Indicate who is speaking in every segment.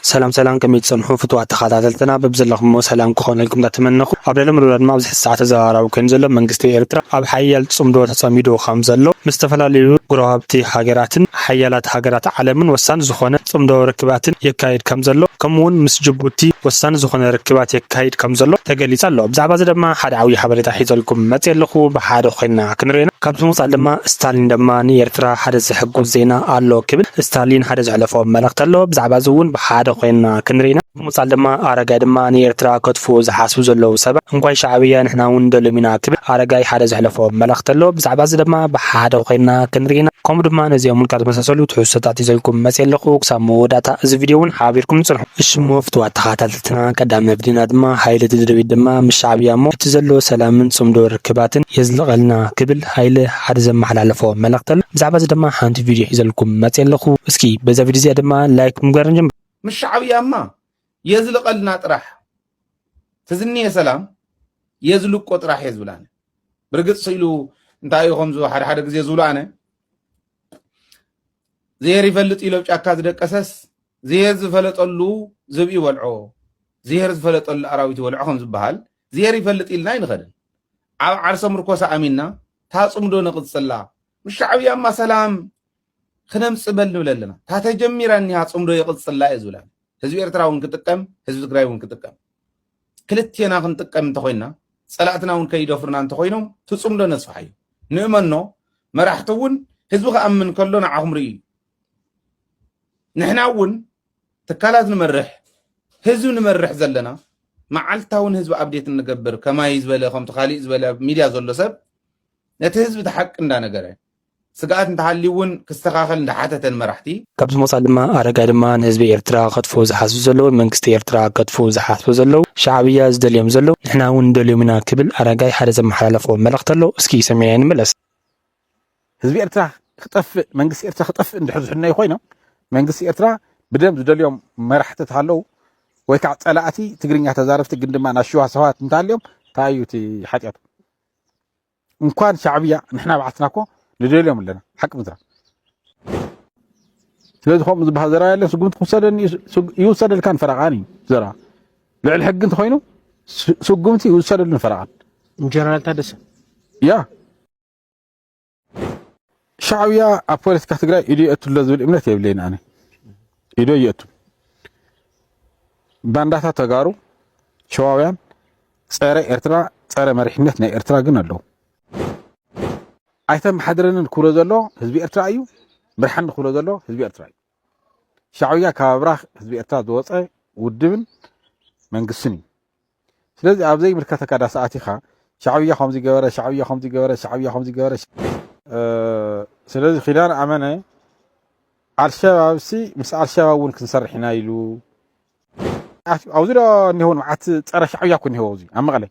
Speaker 1: ሰላም ሰላም ከመይ ትጸንሑ ፍቱዋት ተኻታተልትና በብዘለኽሞ ሰላም ክኾነልኩም እንዳተመነኹ ኣብ ልዕሊ ምሉእና ድማ ኣብዚ ሕዚ ሰዓት ተዘራራቢ ኮይኑ ዘሎ መንግስቲ ኤርትራ ኣብ ሓያል ጽምዶ ተጸሚዱ ከም ዘሎ ምስ ዝተፈላለዩ ጎረባብቲ ሃገራትን ሓያላት ሃገራት ዓለምን ወሳኒ ዝኾነ ጽምዶ ርክባትን የካይድ ከም ዘሎ ከምኡ ውን ምስ ጅቡቲ ወሳኒ ዝኾነ ርክባት የካይድ ከም ዘሎ ተገሊጹ ኣሎ ብዛዕባ እዚ ድማ ሓደ ዓብይ ሓበሬታ ሒዘልኩም መጽየ ኣለኹ ብሓደ ኮይና ዜና ክንሪኤና። ካብዚ ምውጻእ ድማ ስታሊን ድማ ንኤርትራ ሓደ ዘሕጉስ ዜና ኣሎ ክብል ስታሊን ሓደ ዘሕለፎ መልእኽቲ ኣሎ። ብዛዕባ እዚ እውን ብሓደ ኮይንና ክንሪኢና። ብምውጻል ድማ ኣረጋይ ድማ ንኤርትራ ከጥፍኡ ዝሓስቡ ዘለዉ ሰባት እንኳይ ሻዕብያ ንሕና እውን ንደልዮም ኢና ክብል ኣረጋይ ሓደ ዘሕለፎ መልእኽቲ ኣሎ። ብዛዕባ እዚ ድማ ብሓደ ኮይንና ክንሪኢና። ከምኡ ድማ ነዚኦምን ካልኦት ዝመሳሰሉ ትሕዝቶታት ሒዘልኩም መጺኤ ኣለኹ። ክሳብ መወዳእታ እዚ ቪድዮ እውን ሓቢርኩም ጽንሑ። እሺ እሞ ፍትዋት ተኸታተልቲ። ቃልስና ቀዳሚ መብልና ድማ ሃይለ ደደቢት ድማ ምስ ሻዕብያ እሞ እቲ ዘሎ ሰላምን ጽምዶ ርክባትን የዝልቐልና ክብል ሃይለ ሓደ ዘመሓላለፎ መልእኽቲ ኣሎ ብዛዕባ እዚ ድማ ሓንቲ ቪድዮ ሒዘልኩም መጽየ ኣለኹ እስኪ በዛ ቪድዮ እዚኣ ድማ ላይክ ብምግባር ንጀምር። ምስ ሻዕብያ እማ
Speaker 2: የዝልቐልና ጥራሕ ትዝንየ ሰላም የዝልቆ ጥራሕ እየ ዝብል ኣነ ብርግጽ ስኢሉ እንታይ እዩ ከምዚ ሓደ ሓደ ግዜ ዝብሎ ኣነ ዝሄር ይፈልጥ ኢሎ ጫካ ዝደቀሰስ ዝሄር ዝፈለጠሉ ዝብኢ ይበልዖ ዝሄር ዝፈለጠሉ ኣራዊት ይበልዖ ከም ዝበሃል ዝሄር ይፈልጥ ኢልና ኣይንኸድን ኣብ ዓርሰ ምርኮሳ ኣሚንና እታ ፅምዶ ነቕፅላ ምስ ሻዕብያማ ሰላም ክነምፅ በል ንብለ ኣለና እታ ተጀሚራ እኒሃ ፅምዶ የቕፅላ እየ ዝብላ ህዝቢ ኤርትራ እውን ክጥቀም ህዝቢ ትግራይ እውን ክጥቀም ክልቴና ክንጥቀም እንተኾይንና ጸላእትና እውን ከይደፍሩና እንተኾይኖም ትጽምዶ ነጽፋሓዩ ንእመኖ መራሕቲ እውን ህዝቢ ክኣምን ከሎ ንዓኹም ርእዩ ንሕና እውን ትካላት ንመርሕ ህዝቢ ንመርሕ ዘለና መዓልታውን ህዝቢ ኣብዴት እንገብር ከማይ ዝበለ ከምቲ ካሊእ ዝበለ ሚድያ ዘሎ ሰብ ነቲ ህዝቢ ተሓቂ እንዳነገረ ስግኣት እንተሃልዩ እውን ክስተኻኸል እንዳሓተተ ንመራሕቲ። ካብዚ ወፃእ ድማ
Speaker 1: ኣረጋይ ድማ ንህዝቢ ኤርትራ ክኸጥፍኡ ዝሓስቡ ዘለውን መንግስቲ ኤርትራ ከጥፍኡ ዝሓስቡ ዘለው ሻዕብያ ዝደልዮም ዘለው ንሕና እውን ንደልዮም ኢና ክብል ኣረጋይ ሓደ ዘመሓላለፎ መልእኽቲ ኣሎ እስኪ ሰሚዕናዮ ንመለስ።
Speaker 3: ህዝቢ ኤርትራ ክጠፍእ መንግስቲ ኤርትራ ክጠፍእ እንድሕር ዝሕነዩ ኮይኖም መንግስቲ ኤርትራ ብደም ዝደልዮም መራሕቲ ተሃለው ወይ ከዓ ፀላእቲ ትግርኛ ተዛረብቲ ግን ድማ ናይ ሽዋ ሰባት እንተሃልዮም ታይ እዩ እቲ ሓጥያቱ? እንኳን ሻዕብያ ንሕና ባዕልና እኮ ንደልዮም ኣለና ሓቂ ምዝራብ ስለዚ ከምኡ ዝበሃል ዘረባ የለን ስጉምቲ ክውሰደኒ ይውሰደልካን ፈረቓን እዩ ዘረባ ልዕሊ ሕጊ እንተኮይኑ ስጉምቲ ይውሰደሉን ፈረቓን ጀነራል ታደሰ
Speaker 1: ያ
Speaker 3: ሻዕብያ ኣብ ፖለቲካ ትግራይ ኢዱ የእቱ ኣሎ ዝብል እምነት የብለይን ኣነ ኢዶ የእቱ ባንዳታት ተጋሩ ሸዋውያን ጸረ ኤርትራ ጸረ መሪሕነት ናይ ኤርትራ ግን ኣለዉ። ኣይተመሓድረንን ክብሎ ዘሎ ህዝቢ ኤርትራ እዩ። ምርሓኒ ክብሎ ዘሎ ህዝቢ ኤርትራ እዩ። ሻዕብያ ካብ ኣብራኽ ህዝቢ ኤርትራ ዝወጸ ውድብን መንግስትን እዩ። ስለዚ ኣብ ዘይምልከተካ ዳስ ኣቲኻ ሻዕብያ ከምዚ ገበረ ሻዕብያ ከምዚ ገበረ ሻዕብያ ከምዚ ገበረ ስለዚ ኪዳን ኣመነ ኣልሸባብሲ ምስ ኣልሸባብ እውን ክንሰርሕ ኢና ኢሉ ኣብዚ ዶ እኒሆ መዓት ፀረ ሻዕብያ እኮ እኒሆ ኣብዚ ኣብ መቐለ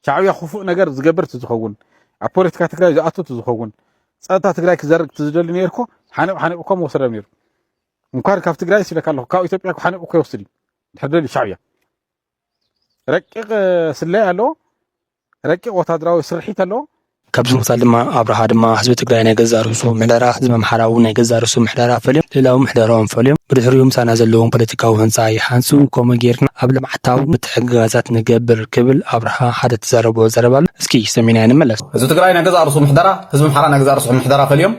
Speaker 3: ሻዕብያ ክፉእ ነገር ዝገብር እቲ ዝኸውን ኣብ ፖለቲካ ትግራይ ዝኣቱ እቲ ዝኸውን ፀጥታ ትግራይ ክዘርግ እቲ ዝደሊ ነይሩ እኮ ሓኒቑ ሓኒቑ እኮ መወሰዶም ነይሩ እንኳን ካብ ትግራይ ሲለካ ኣለኹ ካብ ኢትዮጵያ ሓኒቑ እኮ ይወስድ እዩ ድሕር ደልዩ ሻዕብያ ረቂቕ ስለያ ኣሎ፣ ረቂቕ ወታደራዊ ስርሒት ኣሎ። ካብዚ ምክታል ድማ
Speaker 1: ኣብርሃ ድማ ህዝቢ ትግራይ ናይ ገዛእ ርእሱ ምሕደራ፣ ህዝቢ ኣምሓራ እውን ናይ ገዛእ ርእሱ ምሕደራ ፈልዮም ልእላዊ ምሕደርኦም ፈልዮም ብድሕሪኡ ምሳና ዘለዎም ፖለቲካዊ ህንፃ ይሃንፁ ከምኡ ገይርና ኣብ ልምዓታዊ ምትሕግጋዛት ንገብር ክብል ኣብርሃ ሓደ ዝተዛረቦ ዘረባ ኣሎ እስኪ ሰሚዕናዮ ንመለስ። ህዝቢ ትግራይ ናይ ገዛእ ርእሱ
Speaker 4: ምሕደራ፣ ህዝቢ ኣምሓራ ናይ ገዛእ ርእሱ ምሕደራ ፈልዮም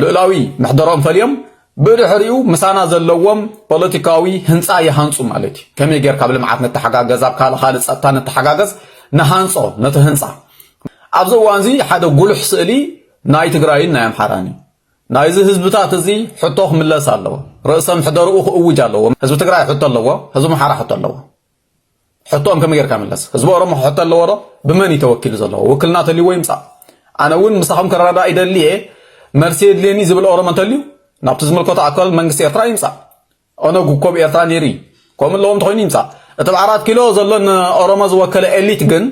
Speaker 4: ልእላዊ ምሕደርኦም ፈልዮም ብድሕሪኡ ምሳና ዘለዎም ፖለቲካዊ ህንጻ ይሃንጹ ማለት እዩ። ከመይ ጌርካ ኣብ ልምዓት ንተሓጋገዝ፣ ኣብ ካልእ ካልእ ጸጥታ ንተሓጋገዝ፣ ንሃንጾ ነቲ ህንጻ። ኣብዚ እዋንዚ ሓደ ጉሉሕ ስእሊ ናይ ትግራይን ናይ ኣምሓራን እዩ። ናይዚ ህዝብታት እዚ ሕቶ ክምለስ ኣለዎ። ርእሰ ምሕደርኡ ክእውጅ ኣለዎ። ህዝቢ ትግራይ ሕቶ ኣለዎ፣ ህዝቢ ኣምሓራ ሕቶ ኣለዎ። ሕቶኦም ከመይ ጌርካ ምለስ ህዝቢ ኦሮሞ ክሕቶ ኣለዎ ዶ ብመን እዩ ተወኪሉ ዘለዎ ውክልና ተልይዎ ይምፃእ ኣነ እውን ምሳኹም ክረዳዳእ ይደሊ እየ መልሲ የድልየኒ ዝብል ኦሮሞ እንተልዩ ናብቲ ዝምልከቶ ኣካል መንግስቲ ኤርትራ ይምፃእ ኦነግ እኮ ብ ኤርትራ ነይሩ እዩ ከምኡ ኣለዎ እንተኮይኑ ይምፃእ እቲ ብ ኣራት ኪሎ ዘሎ ንኦሮሞ ዝወከለ ኤሊት ግን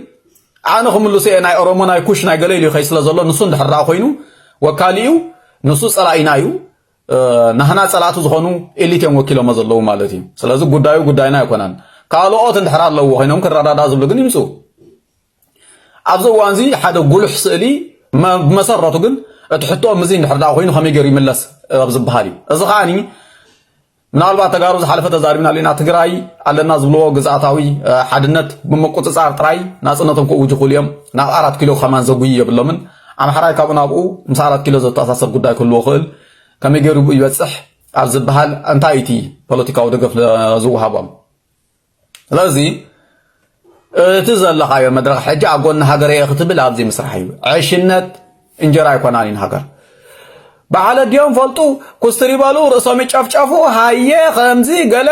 Speaker 4: ኣነ ክምልሶ እየ ናይ ኦሮሞ ናይ ኩሽ ናይ ገለ ኢሉ ይኸይ ስለ ዘሎ ንሱ እንድሕር ኮይኑ ወካሊኡ ንሱ ፀላኢና እዩ ናህና ጸላእቲ ዝኾኑ ኤሊት እዮም ወኪሎሞ ዘለዉ ማለት እዩ ስለዚ ጉዳዩ ጉዳይና ኣይኮነን ካልኦት እንድሕር ኣለዎ ኮይኖም ክረዳዳ ዝብሉ ግን ይምፁ ኣብዚ እዋን እዚ ሓደ ጉሉሕ ስእሊ ብመሰረቱ ግን እቲ ሕቶ ምዚ እንድሕር ዳ ኮይኑ ከመይ ገይሩ ይምለስ ኣብ ዝበሃል እዩ እዚ ከዓኒ ምናልባት ተጋሩ ዝሓለፈ ተዛሪብና ኣለና ትግራይ ኣለና ዝብልዎ ግዝኣታዊ ሓድነት ብምቁፅፃር ጥራይ ናፅነቶም ክእውጁ ክእሉ እዮም ናብ ኣራት ኪሎ ከማን ዘጉይ የብሎምን ኣምሓራይ ካብኡ ናብኡ ምስ ኣራት ኪሎ ዘተኣሳስር ጉዳይ ክህልዎ ክእል ከመይ ገይሩ ብኡ ይበፅሕ ኣብ ዝበሃል እንታይ እቲ ፖለቲካዊ ደገፍ ዝወሃቦም ስለዚ እቲ ዘለኻዮ መድረኽ ሕጂ ኣብ ጎኒ ሃገር እየ ክትብል ኣብዚ ምስራሕ እዩ ዕሽነት እንጀራ ኣይኮናን እዩ ሃገር በዓል ኣዲኦም ፈልጡ ኩስትር ይበሉ ርእሶም ይጨፍጨፉ ሃየ ከምዚ ገለ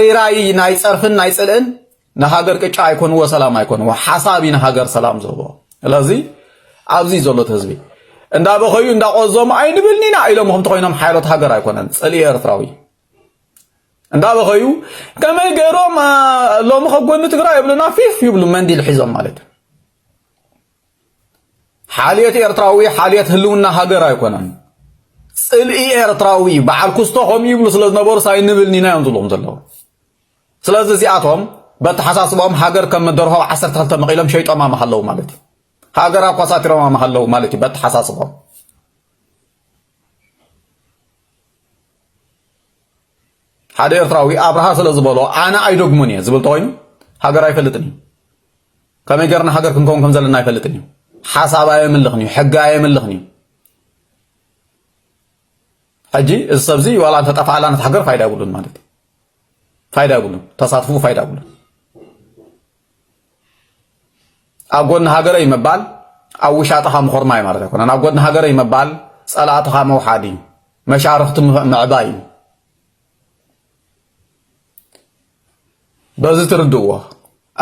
Speaker 4: ሪራይ ናይ ፀርፍን ናይ ፅልእን ንሃገር ቅጫ ኣይኮንዎ ሰላም ኣይኮንዎ ሓሳብ እዩ ንሃገር ሰላም ዝህቦ ስለዚ ኣብዚ ዘሎ ህዝቢ እንዳ በኸዩ እንዳ ቆዞም ኣይንብልን ኢና ኢሎም ከምቲ ኮይኖም ሓይሎት ሃገር ኣይኮነን ጽሊ ኤርትራዊ እንዳ በኸዩ ከመይ ገይሮም ሎሚ ከጎኒ ትግራይ ይብሉና ፊፍ ይብሉ መንዲል ሒዞም ማለት እዩ ሓልዮት ኤርትራዊ ሓልዮት ህልውና ሃገር ኣይኮነን ጽልኢ ኤርትራዊ በዓል ኩስቶ ከምኡ ይብሉ ስለ ዝነበሩ ሳይንብልኒ ኢና እዮም ዝብሎም ዘለዉ ስለዚ እዚኣቶም በተሓሳስባኦም ሃገር ከም ደርሆ ዓሰርተ ክልተ መቒሎም ሸይጦማ ምሃለዉ ማለት እዩ። ሃገር ኣኳሳቲሮማ ምሃለዉ ማለት እዩ በተሓሳስባኦም ሓደ ኤርትራዊ ኣብርሃ ስለ ዝበሎ ኣነ ኣይደግሙን እየ ዝብል ተኮይኑ ሃገር ኣይፈልጥን እዩ ከመይ ገርና ሃገር ክንከውን ከም ዘለና ኣይፈልጥን እዩ ሓሳብ ኣየምልኽን እዩ ሕጊ ኣየምልኽን እዩ ሕጂ እዚ ሰብዚ ዋላ እንተጠፍኣላ ነት ሃገር ፋይዳ የብሉን ማለት እዩ ፋይዳ የብሉን ተሳትፍኡ ፋይዳ የብሉን ኣብ ጎኒ ሃገረይ ምባል ኣብ ውሻጥኻ ምኹርማይ ማለት ኣይኮነን ኣብ ጎኒ ሃገረይ ምባል ጸላእትኻ መውሓድ እዩ መሻርኽቲ ምዕባይ እዩ በዚ ትርድእዎ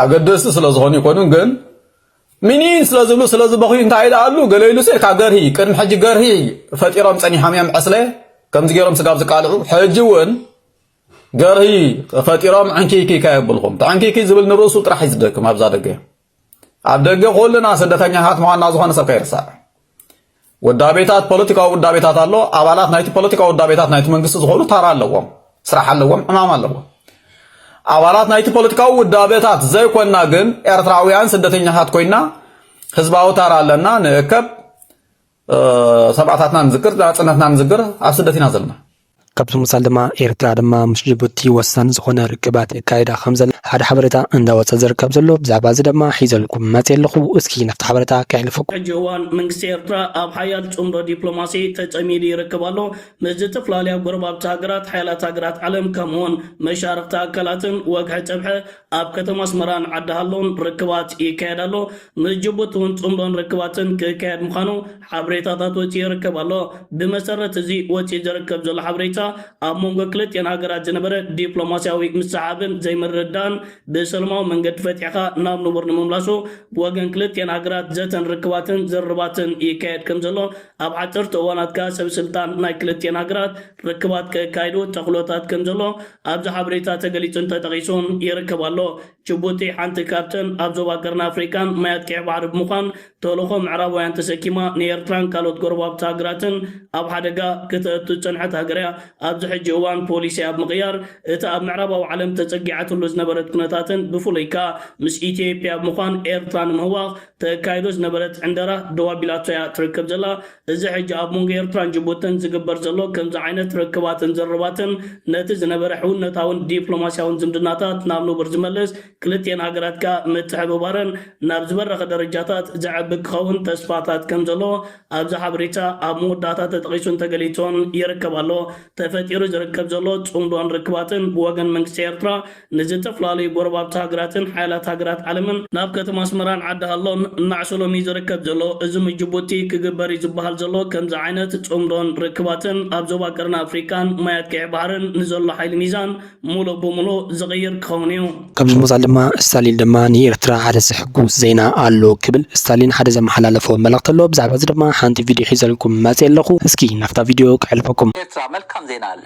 Speaker 4: ኣገደስቲ ስለ ዝኾኑ ይኮኑን ግን ሚኒን ስለ ዝብሉ ስለ ዝበኽዩ እንታይ ይልኣሉ ገለ ኢሉ ሴካ ገርሂ ቅድሚ ሕጂ ገርሂ ፈጢሮም ጸኒሖም እዮም ዕስለ ከምዚ ገይሮም ስጋብ ዝቃልዑ ሕጂ እውን ገርሂ ፈጢሮም ዕንኪኪ ከየብልኩም ተዕንኪኪ ዝብል ንርእሱ ጥራሕ እዩ ዝደክም ኣብዛ ደገ ኣብ ደገ ኩልና ስደተኛታት ምዃንና ዝኾነ ሰብ ከይርሳዕ ውዳቤታት ፖለቲካዊ ውዳቤታት ኣሎ ኣባላት ናይቲ ፖለቲካዊ ውዳቤታት ናይቲ መንግስቲ ዝኾኑ ታራ ኣለዎም ስራሕ ኣለዎም ዕማም ኣለዎም ኣባላት ናይቲ ፖለቲካዊ ውዳቤታት ዘይኮና ግን ኤርትራውያን ስደተኛታት ኮይና ህዝባዊ ታራ ኣለና ንእከብ ሰብኣታትና ንዝክር ናጽነትና ንዝክር ኣብ ስደት ኢና ዘለና ካብዚ ምሳል
Speaker 1: ድማ ኤርትራ ድማ ምስ ጅቡቲ ወሳኒ ዝኾነ ርክባት የካይዳ ከም ዘለ ሓደ ሓበሬታ እንዳወፀ ዝርከብ ዘሎ ብዛዕባ እዚ ድማ ሒዘልኩም መፅ ኣለኹ እስኪ ናብቲ ሓበሬታ ከሕልፈኩም ሕጂ እዋን መንግስቲ
Speaker 5: ኤርትራ ኣብ ሓያል ጽምዶ ዲፕሎማሲ ተጸሚዱ ይርከብ ኣሎ ምስ ዝተፈላለያ ጎረባብቲ ሃገራት ሓያላት ሃገራት ዓለም ከምኡውን መሻርኽቲ ኣካላትን ወግሐ ጸብሐ ኣብ ከተማ ኣስመራን ዓዲ ሃሎን ርክባት ይካየድ ኣሎ። ምስ ጅቡቲ እውን ጽምዶን ርክባትን ክካየድ ምዃኑ ሓበሬታታት ወጺኡ ይርከብ ኣሎ። ብመሰረት እዚ ወጺኡ ዝርከብ ዘሎ ሓበሬታ፣ ኣብ መንጎ ክልቲኤን ሃገራት ዝነበረ ዲፕሎማስያዊ ምስሕሓብን ዘይምርድዳእን ብሰለማዊ መንገዲ ፈቲሕካ ናብ ንቡር ንምምላሱ ብወገን ክልቲኤን ሃገራት ዘተን ርክባትን ዝርርባትን ይካየድ ከምዘሎ ኣብ ሓጸርቲ እዋናት ከኣ ሰበስልጣን ናይ ክልቲኤን ሃገራት ርክባት ከካይዱ ተኽሎታት ከምዘሎ ኣብዚ ሓበሬታ ተገሊጹን ተጠቒሱን ይርከብ ኣሎ። ጅቡቲ ሓንቲ ካብተን ኣብ ዞባ ቀርኒ ኣፍሪቃን ማያት ቀይሕ ባሕሪ ብምዃን ተልእኾ ምዕራባውያን ተሰኪማ ንኤርትራን ካልኦት ጎረባብቲ ሃገራትን ኣብ ሓደጋ ክተእቱ ዝጸንሐት ሃገር'ያ። ኣብዚ ሕጂ እዋን ፖሊሲኣ ብምቕያር እቲ ኣብ ምዕራባዊ ዓለም ተጸጊዓትሉ ዝነበረት ኩነታትን ብፍሉይ ከኣ ምስ ኢትዮጵያ ብምዃን ኤርትራ ንምህዋኽ ተካይዶ ዝነበረት ዕንደራ ደው ኣቢላቶ'ያ ትርከብ ዘላ። እዚ ሕጂ ኣብ መንጎ ኤርትራን ጅቡትን ዝግበር ዘሎ ከምዚ ዓይነት ርክባትን ዝርርባትን ነቲ ዝነበረ ሕውነታውን ዲፕሎማስያውን ዝምድናታት ናብ ንቡር ዝመልስ ክልቲኤን ሃገራት ከኣ ምትሕብባረን ናብ ዝበረኸ ደረጃታት ዘዕቢ ክኸውን ተስፋታት ከምዘሎ ኣብዚ ሓበሬታ ኣብ መወዳእታ ተጠቒሱን ተገሊጹን ይርከብ ኣሎ። ተፈጢሩ ዝርከብ ዘሎ ጽምዶን ርክባትን ብወገን መንግስቲ ኤርትራ ንዝተፈላለዩ ጎረባብቲ ሃገራትን ሓያላት ሃገራት ዓለምን ናብ ከተማ ኣስመራን ዓዲ ሃሎን እናዕሰሎም እዩ ዝርከብ ዘሎ። እዚ ምስ ጅቡቲ ክግበር እዩ ዝበሃል ዘሎ ከምዚ ዓይነት ጽምዶን ርክባትን ኣብ ዞባ ቀርኒ ኣፍሪቃን ማያት ቀይሕ ባሕርን ንዘሎ ሓይሊ ሚዛን ምሉእ ብምሉእ ዝቕይር ክኸውን እዩ። ከምዚ ምባል ድማ
Speaker 1: እስታሊን ድማ ንኤርትራ ሓደ ዘሕጉስ ዜና ኣሎ ክብል እስታሊን ሓደ ዘመሓላለፎ መልእኽቲ ኣሎ። ብዛዕባ እዚ ድማ ሓንቲ ቪድዮ ሒዘልኩም መጺኤ ኣለኹ። እስኪ ናብታ ቪድዮ ከሕልፈኩም። ኤርትራ መልካም ዜና
Speaker 6: ኣለ።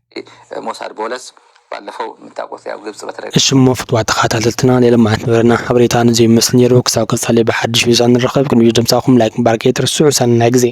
Speaker 6: ሞሳድ ቦለስ ባለፈው ምታቆት ያው ግብጽ በተደጋ እሽሞ ፍትዋ
Speaker 1: ተኻታተልትና ናይ ለማዓት ንበረና ሓበሬታ ንዙይ ይመስል ነይሩ ክሳብ ቀጻሊ ብሓድሽ ቪዛ ንራኸብ ቅድሚ ድምጻኹም ላይክ ምባር ከይትርስዑ ሰናይ ግዜ።